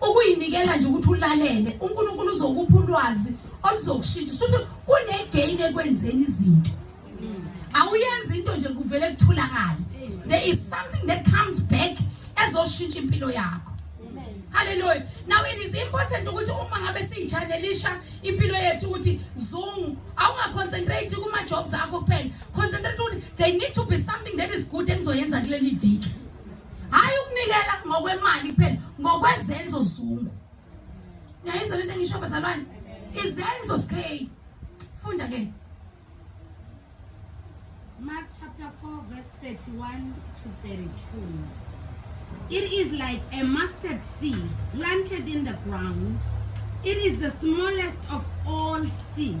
ukuyinikela nje ukuthi ulalele uNkulunkulu uzokupha ulwazi oluzokushintsha futhi kunegain ekwenzeni izinto awuyenzi into nje kuvele kuthulakala there is something that comes back ezoshintsha impilo yakho haleluya now it is important ukuthi uma ngabe siyijanelisha impilo yethu ukuthi zoom awungaconcentrate kuma jobs akho kuphela concentrate ukuthi they need to be something that is good engizoyenza kuleli viki hhayi ukunikela ngokwemali kuphela ngokwezenzo zungu niyayizwa lento engisho bazalwane izenzo sikheli funda ke Mark chapter 4 verse 31 to 32 It is like a mustard seed planted in the ground. It is the smallest of all seeds.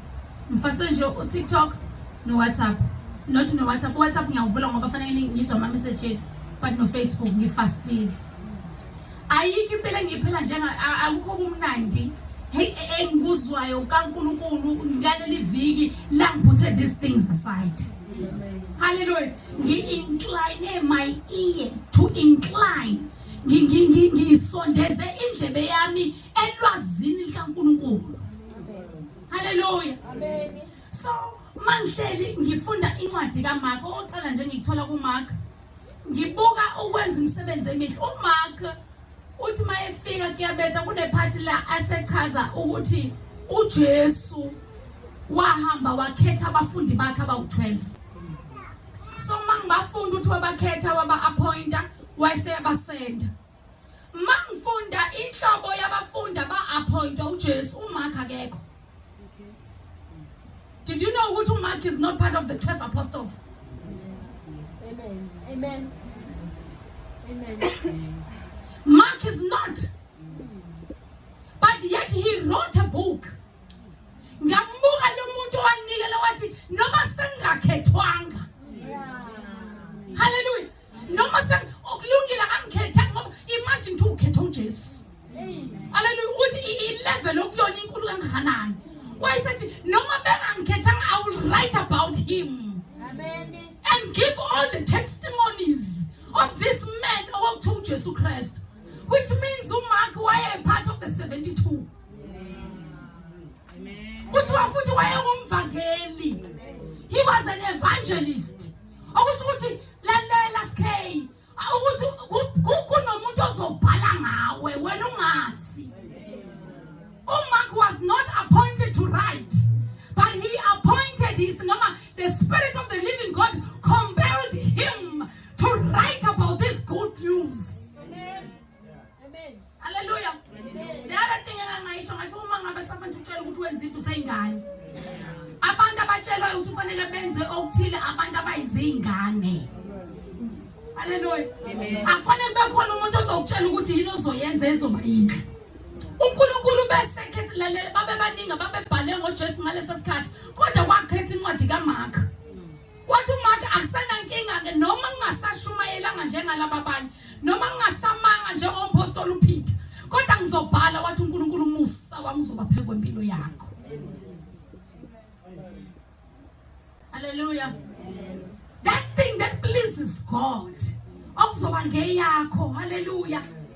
Mfasenje uTikTok noWhatsApp. Not noWhatsApp. UWhatsApp ngiyawuvula ngoba fanele ngizwa ama message but noFacebook ngifastile. Ayikho impela engiyiphela njenga akukho kumnandi. Hey engikuzwayo kaNkuluNkulu ngaleli viki langiphuthe these things aside. Hallelujah. Ngi-incline my ear to incline. Ngisondeze indlebe yami elwazini likaNkuluNkulu. Haleluya. Amen. So mangihleli ngifunda incwadi kaMark oqala nje ngithola kuMark ngibuka ukwenza imisebenzi emihle uMark uthi mayefika kuyabetha kunephathi la asechaza ukuthi uJesu wahamba wakhetha abafundi bakhe abawu-12 so mangibafunda uthi wabakhetha waba-appointa wayeseyabasenda Mangifunda inhlobo yabafundi aba-appointwa uJesu uMark akekho. Did you know ukuthi uMark is not part of the 12 apostles? Amen. Amen. Amen. Mark is not. But yet he wrote a book. Ngambuka lo muntu owanikela wathi noma sengakhethwanga. Yeah. Hallelujah. noma sekulungile akamkhethanga ngoba imagine ukuthi ukhetha uJesu haleluya ukuthi i-level okuyona inkulu kangakanani wayesethi noma bengangikhethanga i will write about him and give all the testimonies of this man okuthiwa ujesu kristu which means umark waye part of the 72 kuthiwa futhi wayengumvangeli he was an evangelist okusho ukuthi lalela sk ukuthi kunomuntu ozobhala ngawe wena ungazi umark was not appointed to write but he appointed his noma the spirit of the living god compelled him to write about this good news Amen. Amen. Hallelujah. Amen. The other thing engangayisho ngathi uma ngabe kusafanele utshela ukuthi wenza into useyingane. Abantu abatshelwayo ukuthi ufanele benze okuthile abantu abayizingane. Hallelujah. Amen. Akufanele bekhona umuntu ozokutshela ukuthi yini ozoyenza ezoba yinhle. uNkulunkulu besekhethe lalela babebaningi ababebhale ngoJesu ngalesa sikhathi kodwa wakhetha incwadi kaMark Wathi uMatha akusenankinga-ke noma kungasashumayelanga njengalaba abanye noma kungasamanga njengompostoli uPeter kodwa ngizobhala wathi uNkulunkulu umusa wami uzoba phezu kwempilo yakho. Hallelujah. That thing that pleases God okuzoba ngeyakho. Hallelujah.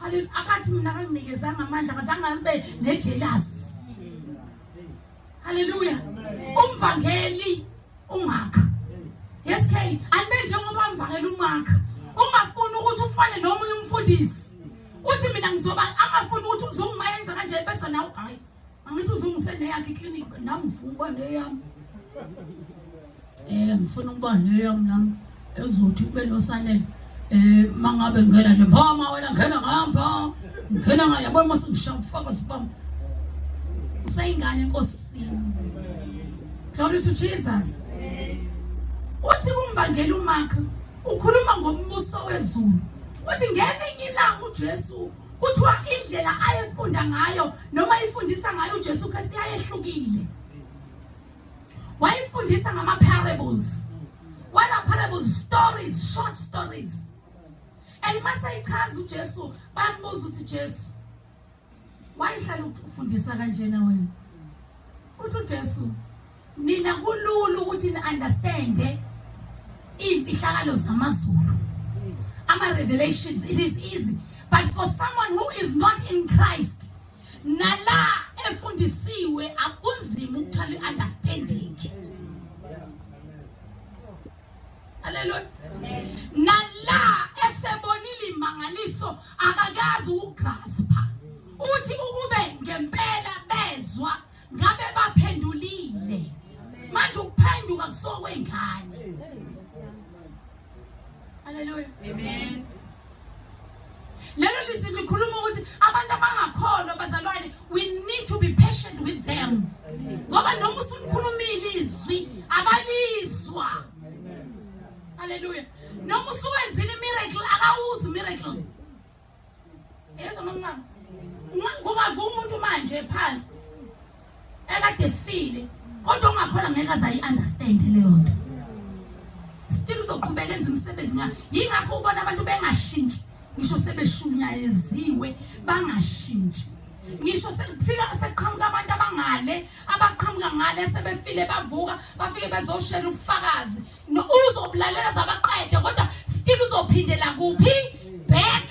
Hallelujah. Akathi mina akanginikezanga amandla akazange abe nejealous. Hallelujah. Umvangeli ungakha. Yes K, anibe njengoba umvangeli ungakha. Ungafuni ukuthi ufane nomunye umfundisi. Uthi mina ngizoba angafuni ukuthi uzungu mayenza kanje bese nawe hayi. Angithi uzungise neyakhe iclinic nami ngifuna ukuba neyami. Eh ngifuna ukuba neyami nami ezothi kube nosanele. Eh mangabe ngena nje mama wena ngena ngapha. Ngena ngapha yabona mase ngishaya ufaka sibamba. Usayingane enkosini. Glory to Jesus. Uthi kumvangeli uMark ukhuluma ngombuso wezulu. Uthi ngelinye ilanga uJesu kuthiwa indlela ayefunda ngayo noma ifundisa ngayo uJesu Kristu yayehlukile wayefundisa ngama parables what are parables stories short stories and masayichaza uJesu bambuza ukuthi Jesu wayihlala ufundisa kanjena wena uthi uJesu nina kulula ukuthi ni understand imfihlakalo zamazulu ama revelations it is easy but for someone who is not in Christ nala efundisiwe akunzima ukuthola iunderstanding Hallelujah nala esebonile imangaliso akakazi ukugraspa uthi ukube ngempela bezwa ngabe baphendulile manje ukuphenduka kusokwengane haleluya amen lelo lizwi likhuluma ukuthi abantu abangakholwa bazalwane we need to be patient with them ngoba noma usulikhulumile izwi abalizwa haleluya noma usuwenzile imiracle akawuzi miracle Yezwa mamncane. Kungavuka umuntu manje phansi. Ekade file kodwa ungakhola ngeke azayi understand leyo nto. Still uzoqhubeka enza umsebenzi ngayo. Yingakho ubona abantu bengashintshi. Ngisho sebeshunyayeziwe bangashintshi. ngisho sekufika sekuqhamuka abantu abangale abaqhamuka ngale sebefile bavuka bafike bezoshela ubufakazi No, uzobulalela zabaqede kodwa still uzophindela kuphi? Back.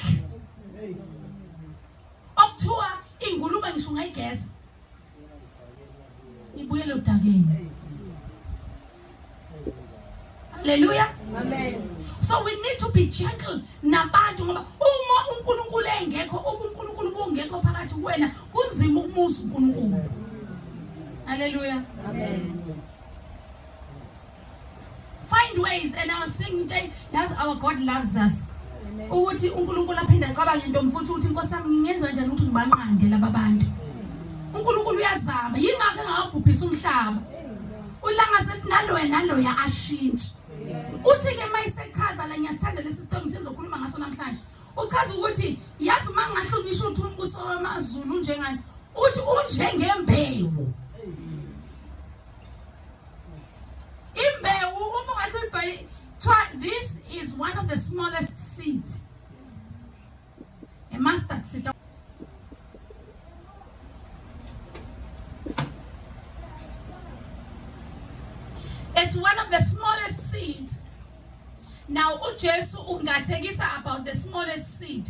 Okuthiwa ingulube ngisho ungayigeza. Ibuyele udakeni. Hallelujah. Amen. So we need to be gentle nabantu ngoba uma uNkulunkulu engekho ubuNkulunkulu bungekho phakathi kuwena kunzima ukumusa uNkulunkulu. Hallelujah. Amen. find ways and I was saying into yazi our God loves us ukuthi uNkulunkulu aphinde acabange into mfuthu ukuthi inkosi yami ngingenza kanjani ukuthi ngibanqande laba bantu uNkulunkulu uyazama yingakho engakabhubhisa umhlaba ulanga sethi naloya naloya ashintshe uthi ke mayisechaza la ngiyasithanda lesi sitori ngithe ngizokhuluma ngaso namhlanje uchaza ukuthi yazi uma ngingahlonishwa ukuthi umbuso wamazulu unjengani uthi unjengembewu imbewu uma ungahle uyibheke kuthiwa this is one of the smallest seed a mustard seed It's one of the smallest seed. Now uJesu ungathekisa about the smallest seed.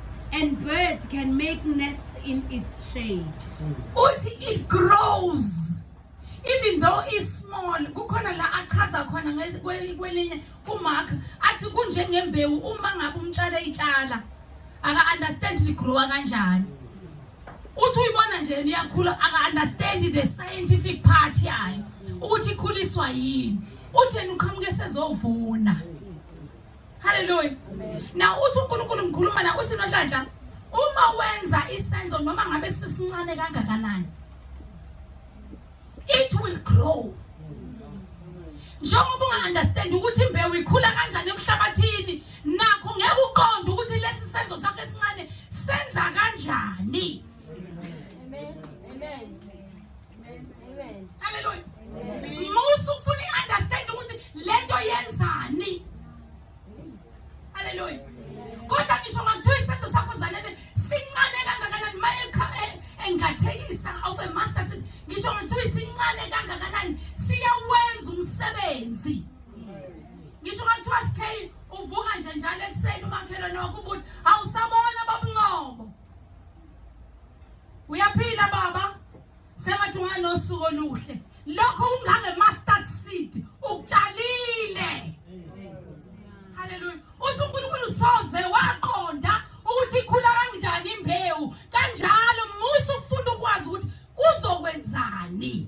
And birds can make nests in its shade. Uthi it grows even though is small kukhona la achaza khona kwelinye kumark athi kunjengembewu uma ngabe umtshala itshala aka-understand ligrowa kanjani uthi uyibona nje iyakhula aka-understand the scientific part yayo ukuthi ikhuliswa yini uthi yena uqhamuke sezovuna Hallelujah. Na uthi uNkulunkulu ngikhuluma na uthi nohlanhla uma wenza isenzo noma ngabe sisincane kangakanani it will grow njengoba unga-understand ukuthi imbewu ikhula kanjani emhlabathini nakho ngeke uqonde ukuthi lesi senzo sakho esincane senza kanjani Haleluya. Musa ufuna i-understand ukuthi lento yenzani. Haleluya. Kodwa ngisho makuthiwa isenzo sakho zanele sincane kangakanani maye eh, engathekisa of a master set ngisho makuthiwa isincane kangakanani siyawenza umsebenzi. Ngisho makuthiwa sikhe uvuka nje njalo ekuseni umakhelwane wakho uvuka awusabona babungcobo. Uyaphila baba. Sengathi unganosuku oluhle. Lokho ungange mustard seed ukutshalile. Hallelujah. Uthi uNkulunkulu soze waqonda ukuthi ikhula kanjani imbewu. Kanjalo musa ukufunda ukwazi ukuthi kuzokwenzani.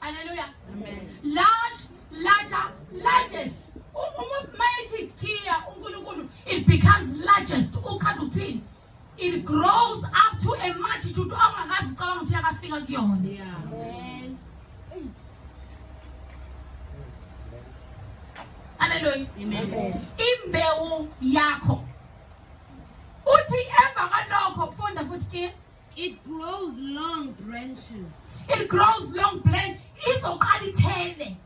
Haleluya. Large, larger, largest. Uma mayithi Kia uNkulunkulu it becomes largest. Uchaza ukuthini? It grows up to a multitude ongakazi ucabanga ukuthi yakafika kuyona. Yeah. Haleluya. Amen. Imbewu yakho. Uthi emva kwalokho funda futhi Kia It grows long branches. It grows long branch. Izoqala ithele.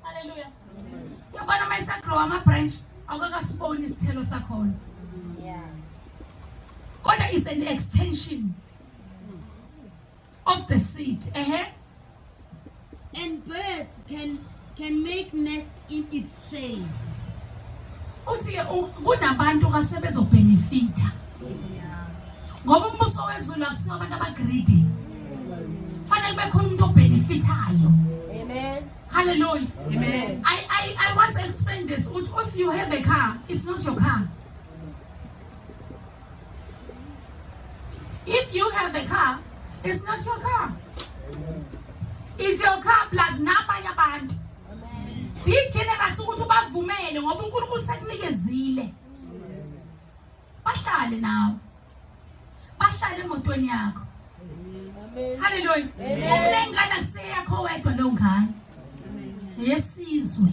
Hallelujah. Yabona uma isagrow ama branch awukakasiboni isithelo sakhona. Yeah. Kodwa is an extension. of the seed. Uh-huh. And birds can can make nest in its shade. Uthi kunabantu kasebezobhenefitha. Ngoba umbuso wezulu akusiwo abantu abagreedy. Fanele kube khona umuntu obhenefithayo. Amen. Hallelujah. Amen. I, I, I once explained this. If you have a car, it's not your car. If you have a car, it's not your car. It's your car plus nabanye abantu. Be generous ukuthi ubavumele ngoba uNkulunkulu sekunikezile. Bahlale nawe. Bahlale emotweni yakho. Hallelujah. Umnengane kuseyakho wedwa lo ngane. Yesizwe.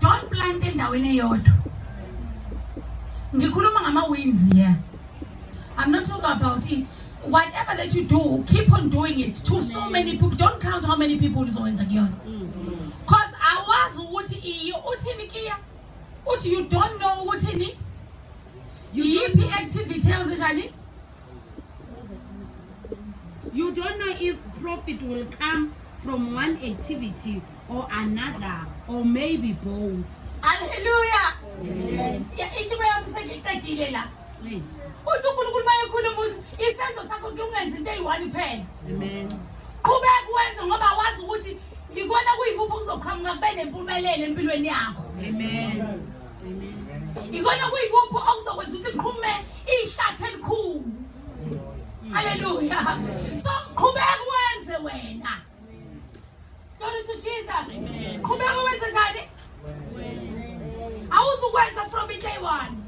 don't plant endaweni eyodwa ngikhuluma ngama-wins here i'm not talking about it whatever that you do keep on doing it to so many people don't count how many people uzowenza kuyona cause awazi ukuthi iyo uthini kiya uthi you don't know ukuthi ni yiphi activity ewuzenjani you don't know if profit will come from one activity or another or maybe both haleluya ithi bayamusekiqedile la uthi unkulunkulu uma ekhuluma ukuthi isenzo sakho kungenza into eyi-one phela qhubeka wenze ngoba wazi ukuthi yikona kuyikuphi okuzoqhamuka kube nempumelelo empilweni yakho yikona kuyikuphi okuzokwenza ukuthi liqhume ihlathi elikhulu haleluya so qhubeka wenze wena Glory to Jesus. Qhubeka wenze njani? Awuzukwenza from day one.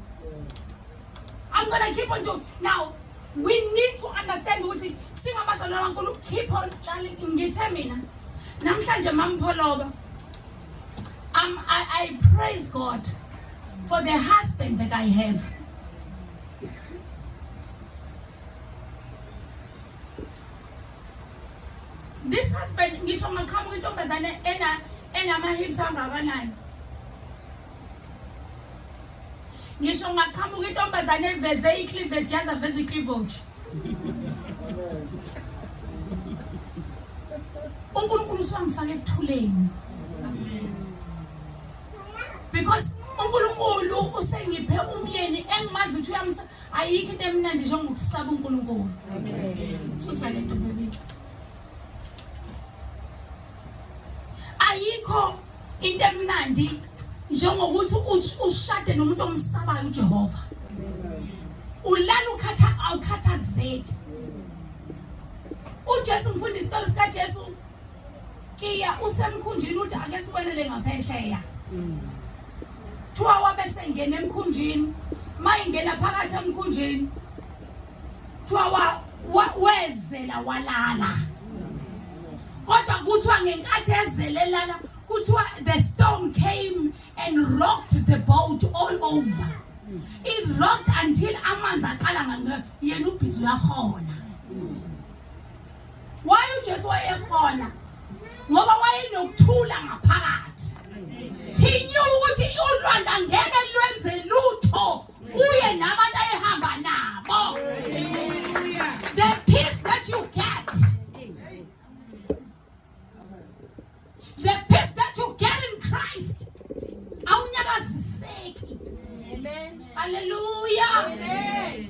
I'm going to keep on doing. Now, we need to understand ukuthi singabazalwane baNkulunkulu keep on tshaling ngithe mina namhlanje mampholoba um, I, I praise God for the husband that I have. this husband ngisho ngaqhamuka intombazane ena enama-hips angakanani ngisho ngaqhamuka intombazane eveze i-cleavage yaze aveze i-cleavage unkulunkulu usuwangifaka ekuthuleni because unkulunkulu usengiphe umyeni engimazi ukuthi uyamsa ayikho into emnandi njengokusaba uNkulunkulu susa le nto baby ayikho into emnandi njengokuthi ushade nomuntu omsabayo uJehova ulala ukhatha awukhathazeki uJesu ngifunda isitori sikaJesu Kiya usemkhunjini uthi ake sikwelele ngaphesheya. Mm. Thiwa wabe sengena emkhunjini, mayingena phakathi emkhunjini. Thiwa wa wezela walala. Kodwa kuthiwa ngenkathi ezelelana kuthiwa the storm came and rocked the boat all over. Mm. It rocked until amanzi aqala ngeke yena ubhizi uyahola. Why uJesu wayekhona? Ngoba wayenokuthula ngaphakathi. He knew ukuthi ulwandla ngeke lwenze lutho kuye nabantu ayehamba nabo. The peace that you get. The peace that you get in Christ. Awunyakaziseki. Amen. Hallelujah. Amen.